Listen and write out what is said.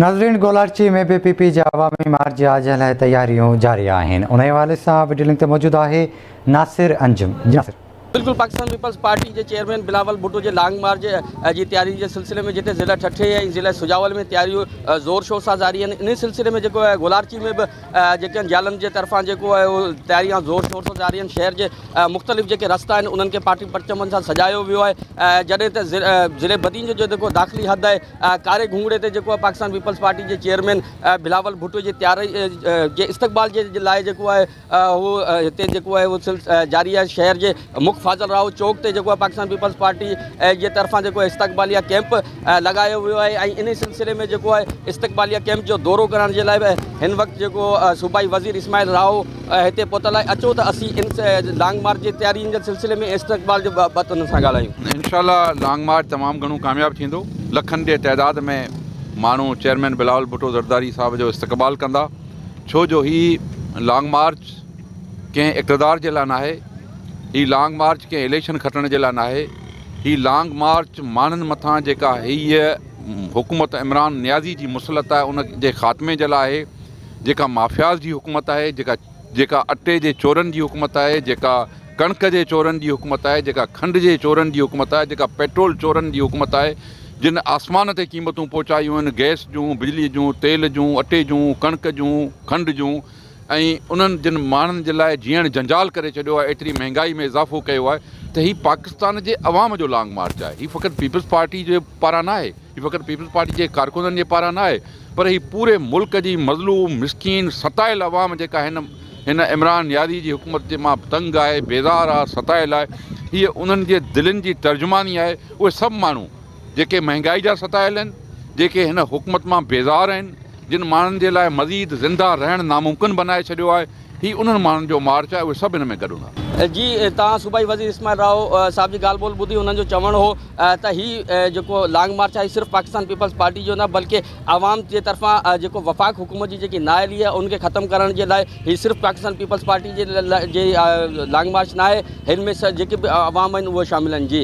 ناظرين گولاڙچي ۾ به P P جي عوامي مارچ جي آجيان لاء تياريون جاري آهن انهي حوالي سان وڊيو لنڪ تي موجود آهي ناصر انجم جي ناصر. بلڪل پاڪستان پيپلز پارٽي جي چيئرمين بلاول ڀٽو جي لانگ مارچ جي تيارين جي سلسلي ۾ جتي ضلع ٺٽي ۽ ضلع سجاول ۾ تياريون زور شور سان جاري آهن انهي سلسلي ۾ جيڪو آهي گولاڙچي ۾ به جيڪي آهن جيلن جي طرفان جيڪو آهي اهو تياريان زور شور سان جاري آهن شهر جي مختلف جيڪي رستا آهن انهن کي پارٽي پرچمن سان سجايو ويو آهي جڏهن ته ضلعي بدين جو جيڪو داخلي حد آهي ڪاري گهونگڙي تي جيڪو آهي پاڪستان پيپلز پارٽي جي چيئرمين بلاول ڀٽو جي تياري جي استقبال جي لاء جيڪو آهي هو هتي جيڪو آهي هو سلس جاري آهي شهر جي مک فاضل راهو چوڪ تي جيڪو آهي پاڪستان پيپلز پارٽي جي طرفان جيڪو استقباليه ڪيمپ لڳايو ويو آهي ۽ ان سلسلي ۾ جيڪو آهي استقباليه ڪيمپ جو دورو ڪرڻ جي لاء به هن وقت جيڪو صوبائي وزير اسماعيل راهو هتي پهتل آهي اچو ته اسين ان لانگ مارچ جي تيارين جي سلسلي ۾ استقبال جي بابت انهن سان ڳالهايون. انشاء الله لانگ مارچ تمام گهڻو ڪامياب ٿيندو لکن جي تعداد ۾ ماڻهو چيئرمين بلاول ڀٽو زرداري صاحب جو استقبال ڪندا ڇو جو هي لانگ مارچ ڪنهن اقتدار جي لاء ناهي هي لانگ مارچ ڪنهن اليڪشن کٽڻ جي لاء ناهي هي لانگ مارچ ماڻهن مٿان جيڪا هيء حڪومت عمران نيازي جي مسلط آهي ان جي خاتمي جي لاء آهي جيڪا مافياز جي حڪومت آهي، جيڪا جيڪا اٽي جي چورن جي حڪومت آهي، جيڪا ڪڻڪ جي چورن جي حڪومت آهي، جيڪا کنڊ جي چورن جي حڪومت آهي، جيڪا پيٽرول چورن جي حڪومت آهي، جن آسمان تي قيمتون پهچايون آهن، گئس جون، بجلي جون، تيل جون، اٽي جون، ڪڻڪ جون، کنڊ جون ۽ انهن جن ماڻهن جي لاء جيئڻ جنجال ڪري ڇڏيو آهي، ايتري مهنگائي ۾ اضافو ڪيو آهي ته هي پاڪستان جي عوام جو لانگ مارچ آهي، هي فقط پيپلز پارٽي جي پاران ناهي، هي فقط پيپلز پارٽي جي ڪارڪنن جي پاران نه آهي پر هي پوري ملڪ جي مظلوم، مسڪين، ستايل عوام جيڪا هن هن عمران نيازي جي حڪومت جي مان تنگ آهي، بيزار آهي، ستايل آهي، هيء انهن جي دلين جي ترجماني آهي، اهي سڀ ماڻهو جيڪي مهنگائي جا ستايل آهن، جيڪي هن حڪومت مان بيزار آهن، جن ماڻهن جي لاء مزيد زنده رهڻ ناممڪن بنائي ڇڏيو آهي. هي انهن ماڻهن جو مارچ آهي اهي سڀ هن ۾ گڏ هوندا. جي توهان صوبائي وزير اسماعيل راء صاحب جي ڳالهه ٻولهه ٻڌي انهن جو چوڻ هو ته هي جيڪو لانگ مارچ آهي صرف پاڪستان پيپلز پارٽي جو نه بلڪه عوام جي طرفان جيڪو وفاق حڪومت جي جيڪي نااهلي آهي ان کي ختم ڪرڻ جي لاء هي صرف پاڪستان پيپلز پارٽي جي لانگ مارچ ناهي هن ۾ جيڪي به عوام آهن اهي شامل آهن جي